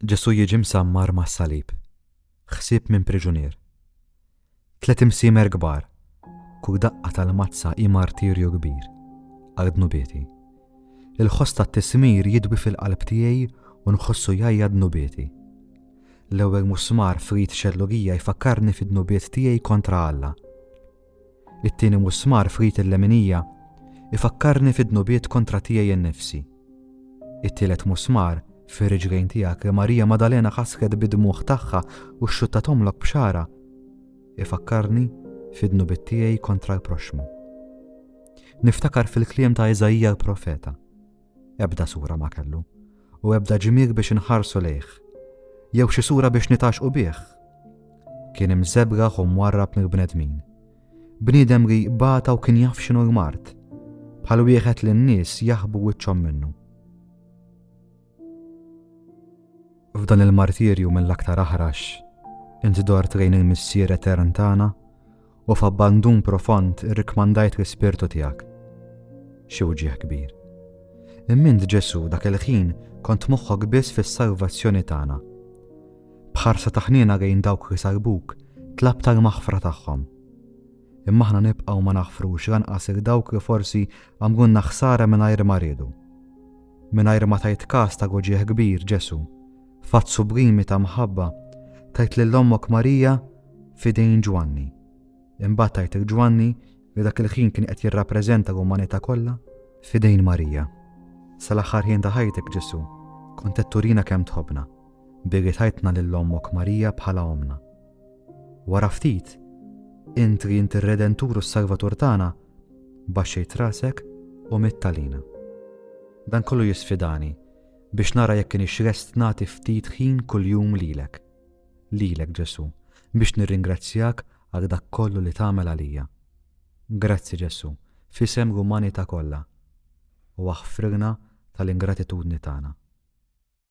Ġesù jiġi msammar mas-salib. Ħsieb minn priġunier. Tliet imsiemer kbar. Kull daqqa tal-mazza hi martirju kbir għal dnubieti. Il-ħoss tat-tismir jidwi fil-qalb tiegħi u nħossu jgħajja dnubieti. L-ewwel musmar f'rit xellugija jfakkarni fid-dnubiet tiegħi kontra Alla. It-tieni musmar f'rit il-leminija ifakkarni fid-dnubiet kontra tiegħi innifsi. It-tielet musmar fir-riġlejn tiegħek li Marija Madalena ħasret bid-dmugħ tagħha u xxuttatomlok b'xara ifakkarni fid-dnubiet tiegħi kontra l-proxxmu. Niftakar fil-kliem ta' Iżaija l-profeta. Ebda sura ma kellu, u ebda ġimir biex inħarsu lejh, jew xi sura biex nitaxqu bih. Kien imżebra u mwarrab mill-bnedmin. Bniedem li bata u kien jaf xinu l-mart, bħal wieħed li n-nies jaħbu wiċċhom minnu. F'dan il-martirju mill-aktar aħrax, inti dor trejn il-missier etern tagħna u f'abbandun profond irrikmandajt l-ispirtu tiegħek. Xi wġieħ kbir. Immint Ġesu dak il-ħin kont moħħok biss fis-salvazzjoni tagħna. Bħarsa taħnina lejn dawk li salbuk, tlab tal-maħfra tagħhom. Imma aħna nibqgħu ma naħfrux lanqas il dawk li forsi għamlunna ħsara mingħajr ma riedu. Mingħajr ma tajt kas ta' goġieħ kbir Ġesu, fatt sublimi ta' mħabba, tajt lil ommok Marija f'idejn Ġwanni. Imbagħad tajt il Ġwanni li dak il-ħin kien qed jirrappreżenta l-umanità kollha f'idejn Marija. Sal-aħħar ħin ta' ħajtek Ġesu, kont qed turina kemm tħobbna, billi tajtna lil ommok Marija bħala omna. Wara ftit, int li int ir-Redentur u s-Salvatur tagħna, baxxejt rasek u mittalina. Dan kollu jisfidani biex nara jekk kienx lest nagħti ftit ħin kuljum lilek. lilek Ġesù, biex nirringrazzjak għal dak kollu li tagħmel għalija. Grazzi Ġesù, f'isem l-umanità kollha, u aħfrilna tal-ingratitudni tagħna.